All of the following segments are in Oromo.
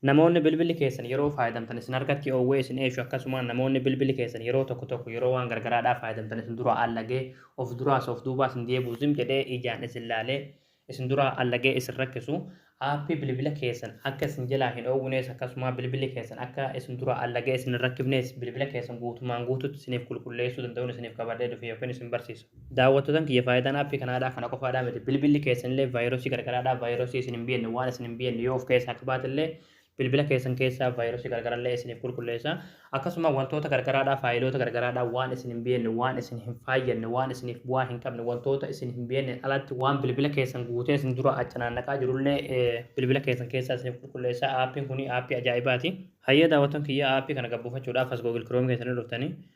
Namoonni bilbilli keessan yeroo faayadamtan isin harkatti oowwee isin eeshu akkasumaan namoonni bilbilli keessan yeroo tokko tokko yeroo waan gargaraadhaa faayadamtan isin duraa allagee of duraas of duubaa isin deebuu zim jedhee ijaan isin laalee isin duraa allagee isin rakkisu aappii bilbila keessan akka isin jelaa hin oowwinees akkasumaa bilbilli keessan akka isin duraa allagee isin hin rakkifnees bilbila keessan guutumaan guututti isiniif qulqulleessuu danda'uun isiniif qabadhee dhufe yookiin isin barsiisa. Daawwattotan kiyya faayidaan app kanaadhaa kana qofaadhaa miti bilbilli keessanillee vaayirasii gargaraadhaa vaayirasii isin hin biyanne waan isin hin biyanne yoo of keessaa qabaatellee bilbila keessan keessaa vaayirasii gargarallee isiniif qulqulleessa akkasuma wantoota gargaraadhaa faayiloota gargaraadhaa waan isin hin biyanne waan isin hin faayyanne waan isiniif bu'aa hin qabne wantoota isin hin biyanne alatti waan bilbila keessan guutee isin dura achanaannaqaa jirullee bilbila keessan keessaa isiniif qulqulleessa aappiin kuni aappii ajaa'ibaati. Hayyee daawwattoon kiyya aappii kana gabbuufachuudhaaf as Google Chrome keessanii dhuftanii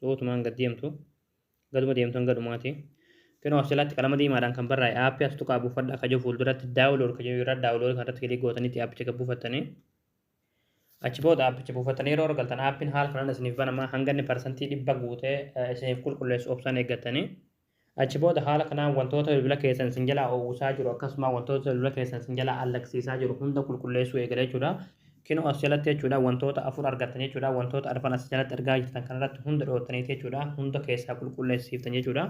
So utumaan gad deemtu gaduma deemtu hanga dhumaati. Kunoo as jalatti qalama diimaadhaan kan barraa'e aappii as tuqaa buufadha akka jiru fuulduratti daawulood kan jiru irra daawulood kan irratti kilii gootanitti aappicha gad buufattanii achi booda aappicha buufattanii yeroo argaltan aappiin haala kanaan isiniif banamaa hanga inni parsantii dhibba guutee isiniif qulqulleessu obsaan eeggattanii Achi booda haala kanaan wantoota bilbila keessan isin jalaa uwwisaa jiru akkasumaa wantoota bilbila keessan isin jalaa allagsiisaa jiru hunda qulqulleessuu eegala jechuudha. Kinoo as jalatti jechuudha wantoota afur argattan jechuudha wantoota arfan as jalatti argaa jirtan kanarratti hunda dhooftaniiti jechuudha hunda keessaa qulqulleessiiftan jechuudha.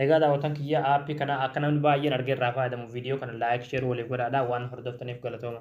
Egaa daawwatan kiyya aappii kana akka namni baay'een argee irraa faayadamu viidiyoo kana laayik sheer waliif godhaadha waan hordoftaniif galatooma.